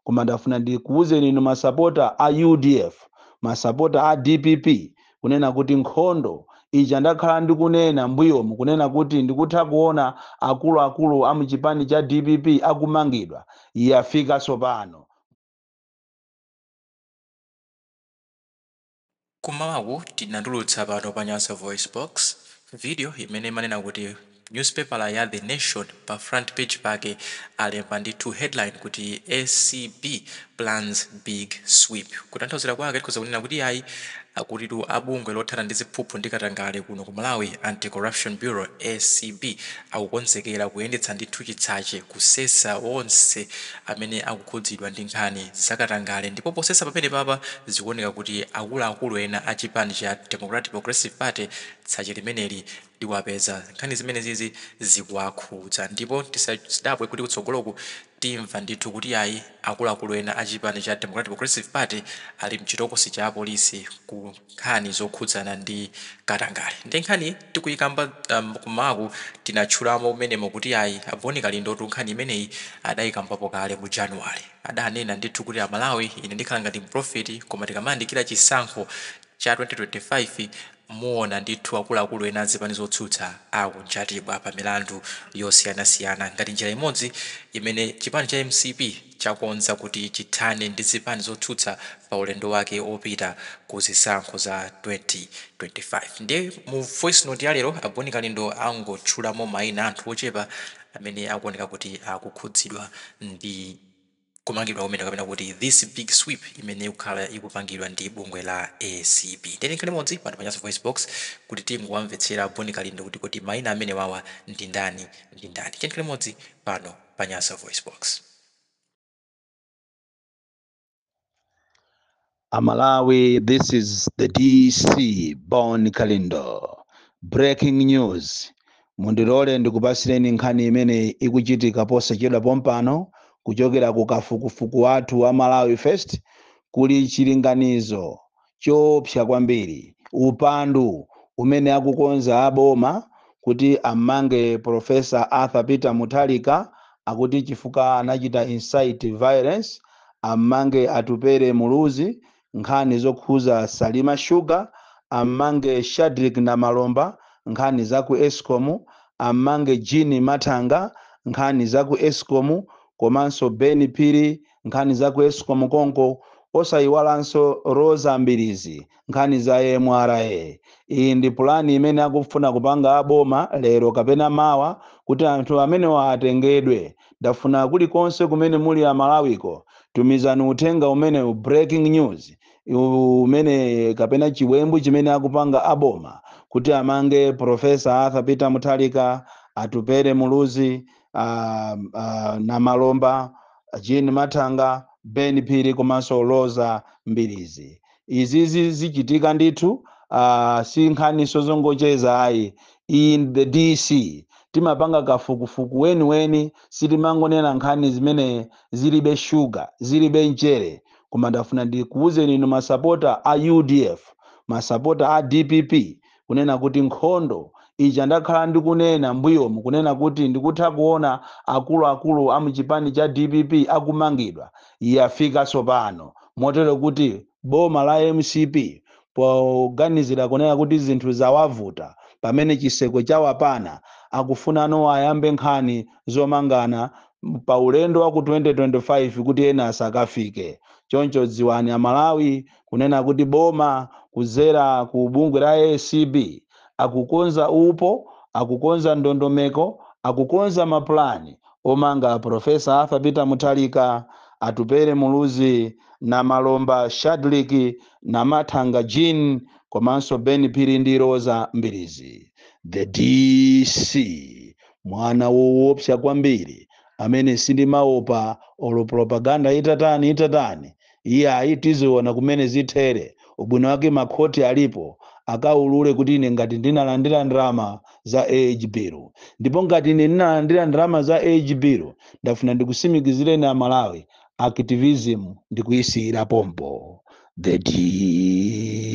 koma ndafuna ndikuwuzeni inu masapota a udf masapota a dpp kunena kuti nkhondo ija ndakhala ndikunena mbuyomu kunena kuti ndikutha kuona akuluakulu a muchipani cha dpp akumangidwa yafika tsopano Kum'mawaku tinatulutsa pano pa Nyasa VoiceBox, video imene imanena kuti nyuzipepala ya The Nation pa front page pake alemba ndithu headline kuti acb Plans Big Sweep. Kutanthauzira kwake tikhoza kunena kuti iyayi, akutitu a bungwe lothana ndi ziphuphu ndi katangale kuno ku Malawi, Anti-Corruption Bureau, acb, akukonzekera kuyendetsa ndithu chitsache. kusesa onse amene akukhudzidwa ndi nkhani zakatangale ndipo posesa pamenepapa zikuoneka kuti akuluakulu ena a chipani cha Democratic Progressive Party tsache limeneli liwapeza. Nkhani zimenezizi zikuwakhudza ndipo tisadabwe kuti kutsogoloku timva ndithu kuti ayi akuluakulu ena a chipani cha Democratic Progressive Party ali mchitokosi cha apolisi ku nkhani zokhudzana ndi katangale nde nkhani tikuyikamba kum'mawaku tinatchulamo mmenemo kuti ayi a Boni Kalindotu nkhani imeneyi adayikambapo kale mu January adanena ndithu kuti a Malawi ine ndikhala ngati mpulofeti koma tikamayandikira chisankho cha 2025 muwona ndithu akuluakulu ena a zipani zotsutsa akunjatidwa pa milandu yosiyanasiyana ngati njira imodzi imene chipani cha mcp chakonza kuti chithane ndi zipani zotsutsa pa ulendo wake opita ku zisankho za 2025. Ndiye mu voice note ya lero, a Boni Kalindo angotchulamo maina a anthu ochepa amene akuoneka kuti akukhudzidwa ndi kumangidwa kumeneku kapena kuti this big sweep imene ikukhala ikupangidwa ndi bungwe la acb. Ndiye tikhale limodzi pano pa Nyasa VoiceBox kuti tingowamvetsera a Boni Kalindo kuti kodi maina amenewawa ndi ndani ndi ndani. Tikhale limodzi pano. pa Nyasa VoiceBox. Amalawi, this is the DC Bon Kalindo. Breaking news. Mundilole ndikupasireni nkhani imene ikuchitika posachedwa pompano kuchokera ku kafukufuku wathu wa Malawi First kuli chilinganizo choopsa kwambiri upandu umene akukonza a boma kuti ammange Prof. Arthur Peter Mutharika akuti chifukwa anachita incite violence, ammange Atupele Muluzi nkhani zokhuza Salima Sugar, ammange Shadrick Namalomba nkhani za ku escom, ammange Jean Mathanga nkhani za ku escom komanso Ben Phiri nkhani za ku escom konko osayiwalanso Roza Mbilizi nkhani za mra iyi ndi pulani imene akufuna kupanga aboma lero kapena mawa kuti anthu amenewa atengedwe ndafuna kulikonse kumene muli amalawiko tumizani uthenga umenewu breaking news umene kapena chiwembu chimene akupanga aboma kuti amange profesa arthur peter mutharika atupele muluzi uh, uh, namalomba jean mathanga ben phiri komanso roza mbilizi izizi zichitika ndithu uh, si nkhaninso zongocheza ayi in the dc timapanga kafukufuku weniweni sitimangonena nkhani zimene zilibe shuga zilibe mchere koma ndafuna ndikuwuzeni inu masapota a udf masapota a dpp kunena kuti nkhondo ija ndakhala ndikunena mbuyomu kunena kuti ndikutha kuona akuluakulu a muchipani cha dpp akumangidwa yafika tsopano motero kuti boma la mcp poganizira kunena kuti zinthu zawavuta pamene chiseko chawapana akufunano ayambe nkhani zomangana pa ulendo wa ku 2025 kuti ena asakafike choncho dziwani amalawi kunena kuti boma kudzera ku bungwe la ACB akukonza upo, akukonza ndondomeko, akukonza ma plan omanga Prof. Arthur Peter Mutharika, Atupele Muluzi, Namalomba Shadric, na Mathanga Jean komanso Ben Phiri ndi Roza Mbilizi. The DC mwana wowopsa kwambiri amene sindimaopa olo propaganda itatani itatani iyayi tiziona kumene zithere ubwino wake makhoti alipo akaulule kuti ine ngati ndinalandira ndalama za age bill ndipo ngati ine ndinalandira ndalama za age bill ndafuna ndikutsimikizireni aMalawi activism ndikuyisiyira pompo the DC